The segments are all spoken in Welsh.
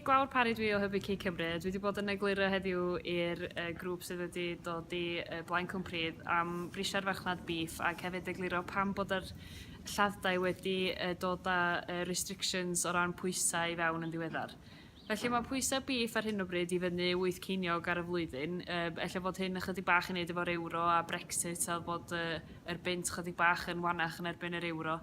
Gwawr Parry dwi o Hybu Cig Cymru. Dwi 'di bod yn egluro heddiw i'r yy grŵp sydd wedi dod i yy Blaen Cwmpridd am frisiau'r farchnad bîff ac hefyd egluro pam bod yr lladd-dai wedi yy dod â yy restrictions o ran pwysau i fewn yn ddiweddar. Felly mae pwysau bîff ar hyn o bryd i fyny wyth ceiniog ar y flwyddyn. Yy ella fod hyn ychydig bach i wneud efo'r ewro a Brexit a bod yy yr bunt chydig bach yn wanach yn erbyn yr ewro.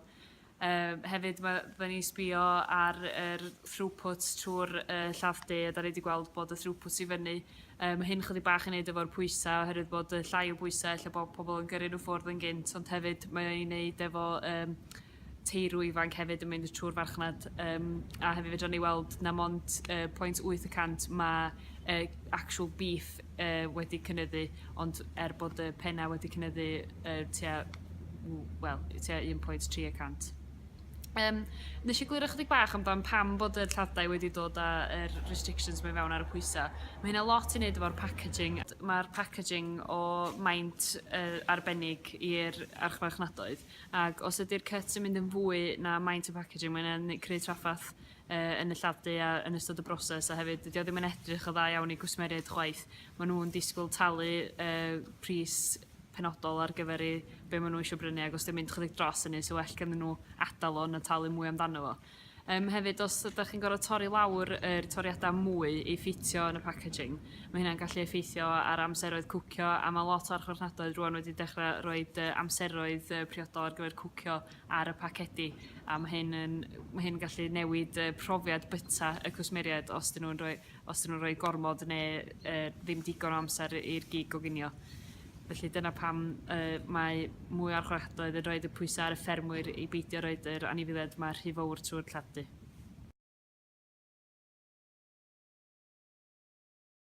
Yy hefyd mae fydden ni'n sbio ar yr throughput trwy'r yy lladd de a da ni wedi gweld bod y throughput i fyny. Yy mae hyn chydig bach i wneud efo'r pwysau oherwydd bod y llai o bwysau ella bod pobl yn gyrru nhw ffwrdd yn gynt ond hefyd mae o i wneud efo yym teulu ifanc hefyd yn mynd trw'r farchnad yym a hefyd fedran ni weld na mond yy point wyth y cant ma' yy actual beef yy wedi cynyddu ond er bod y penna wedi cynyddu yy tua w- wel yy tua un point tri y cant. Yym nes i glywed ychydig bach amdan pam bod yr llathau wedi dod a yr restrictions 'ma i fewn ar y pwysa. Ma' hynna lot i neud efo'r packaging d- ma'r packaging o maint yy arbennig i'r archfarchnadoedd. Ac os ydy'r cyt yn mynd yn fwy na maint y packaging mae'n yn creu traffath yy yn y lladu a yn ystod y broses a hefyd dydi o ddim yn edrych yn dda iawn i gwsmeriaid chwaith. Ma' nhw'n disgwyl talu yy pris penodol ar gyfer eu be' ma' nhw isio brynu ag os 'di o'n mynd chydig dros hynny sa well ganddyn nhw adal o na talu mwy amdano fo. Yym hefyd os ydach chi'n gor'o' torri lawr yr toriada' mwy i ffitio yn y packaging ma' hynna'n gallu effeithio ar amseroedd cwcio a ma' lot o archfarchnadoedd rŵan wedi dechre roid yy amseroedd yy priodol ar gyfer cwcio ar y pacedi a ma' hyn yn ma' hyn yn gallu newid yy profiad byta y cwsmeriaid os 'dyn nw'n roi os 'dyn nhw'n rhoi gormod ne' yy ddim digon o amser i i'r gig goginio. Felly dyna pam yy mae mwy o archfarchnadoedd yn rhoid y pwysa' ar y ffermwyr i beidio roid yr anifeiliaid 'ma rhy fowr trw'r tlodi.